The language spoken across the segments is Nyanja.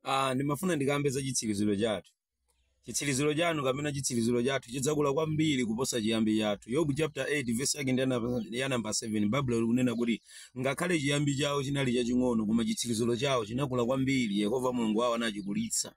Ah, ndimafuna ndikambe za chitsiriziro chathu. Chitsiriziro chanu kapena chitsiriziro chathu chidzakula kwambiri kuposa chiyambi chathu. Yobu chapter 8 verse yake ndi ya namba- ya namba 7. Baibulo likunena kuti ngakhale chiyambi chawo chinali chaching'ono koma chitsiriziro chawo chinakula kwambiri. Yehova Mulungu wawo anachikulitsa.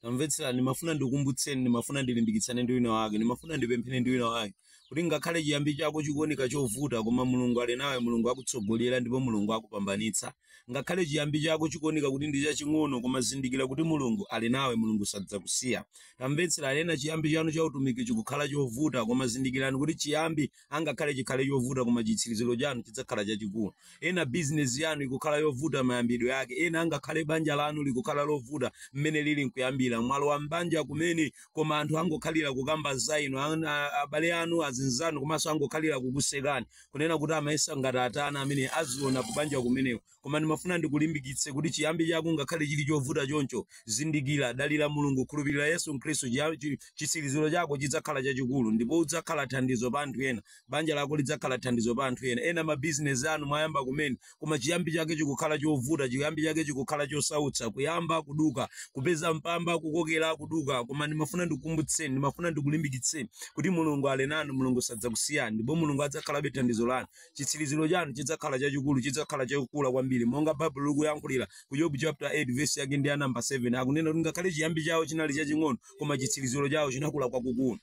tamvetserani ndimafuna ndikukumbutseni ndimafuna ndilimbikitsane ndi wina wake ndimafuna ndipemphere ndi wina wake kuti ngakhale chiyambi chako chikuoneka chovuta koma mulungu ali nawe mulungu akutsogolera ndipo mulungu akupambanitsa ngakhale chiyambi chako chikuoneka kuti ndi chaching'ono koma zindikira kuti mulungu ali nawe mulungu sadzakusiya tamvetserani ena chiyambi chanu cha utumiki chikukhala chovuta koma zindikirani kuti chiyambi angakhale chikhale chovuta koma chitsiriziro chanu chidzakhala chachikulu. Ena bizinesi yanu ikukhala yovuta mayambidwe ake, ena angakhale banja lanu likukhala lovuta mmene lili nkuyambira. Mwalowa m'banja kumene koma anthu angokhalira kukamba za inu, an- a- abale anu, azinzanu komanso angokhalira kukusekani, kunena kuti amayesa ngati atani ameneyu aziona kubanja kumeneko. Koma ndimafuna ndikulimbikitse kuti chiyambi chako ngakhale chili chovuta choncho, zindikira, dalira Mulungu, khulupirira Yesu Khristu, chiya, chi, chitsiriziro chako chidzakhala chachikulu ndipo udzakhala thandizo pa anthu ena. Banja lako lidzakhala thandizo pa anthu ena. Ena mabizinezi anu mwayamba kumene, koma chiyambi chake chikukhala chovuta, chiyambi chake chikukhala chosautsa. Kuyamba, kuduka, kupeza mpamba, kukokera, kuduka. Koma ndimafuna ndikukumbutseni, ndimafuna ndikulimbikitseni kuti Mulungu ali nanu, Mulungu sadzakusiyani, ndipo Mulungu adzakhalabe thandizo lanu. chitsiriziro chanu chidzakhala chachikulu, chidzakhala chokula kwambiri, monga Baibulo likuyankhulira ku Yobu chapter 8 verse yake ndi ya namba 7 akunena kuti ngakhale chiyambi chawo chinali chaching'ono, koma chitsiriziro chawo chinakula kwakukulu.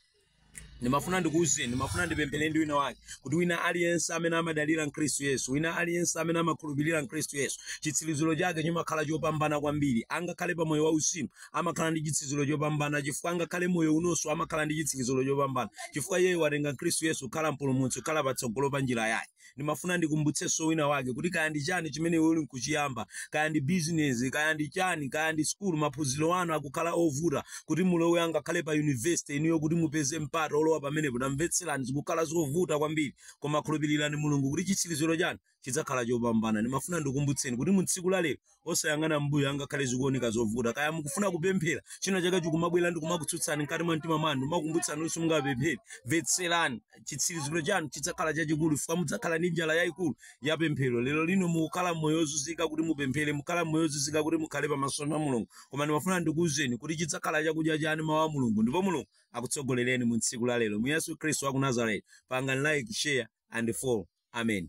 ndimafuna ndikuwuzeni ndimafuna ndipemphere ndi wina wake kuti wina aliyense amene amadalira mkhristu yesu wina aliyense amene amakhulupirira mkhristu yesu chitsiriziro chake chimakhala chopambana kwambiri angakhale pa moyo wauzimu amakhala ndi chitsiziro chopambana chifukwa angakhale moyo unonso amakhala ndi chitsiriziro chopambana chifukwa iyeyo watenga Khristu Yesu kukhala mpulumutsi kukhala patsogolo pa njira yake ndimafuna ndikumbutsenso wina wake kuti kaya ndi chani chimene iwe uli nkuchiyamba kaya ndi bizinesi kaya ndi chani kaya ndi sukulu maphunziro anu akukhala ovuta kuti mulowe angakhale pa yunivesite inuyo kuti mupeze mpata olowa pamenepo tamvetserani zikukhala zovuta kwambiri koma khulupirirani mulungu kuti chitsiriziro chanu chidzakhala chopambana. Ndimafuna ndikukumbutseni kuti mu tsiku la lero, osayang'ana m'mbuyo angakhale zikuoneka zovuta. Kaya mukufuna kupemphera, china chake chikumabwera ndi kumakutsutsani mkati mwa mtima mwanu, n'kumakumbutsani kuti simungapemphere. Mvetserani, chitsiriziro chanu chidzakhala chachikulu chifukwa mudzakhala ndi njala yayikulu ya pemphero. Lero lino mukukhala m'moyo wozunzika kuti mupemphere, mukukhala m'moyo wozunzika kuti mukhale pamaso pa Mulungu. Koma ndimafuna ndikuwuzeni kuti chidzakhala chakudya chanu mawu a Mulungu ndipo Mulungu akutsogolereni mu tsiku la lero. Mu Yesu Khristu wa ku Nazareti, pangani like, share and follow. Amen.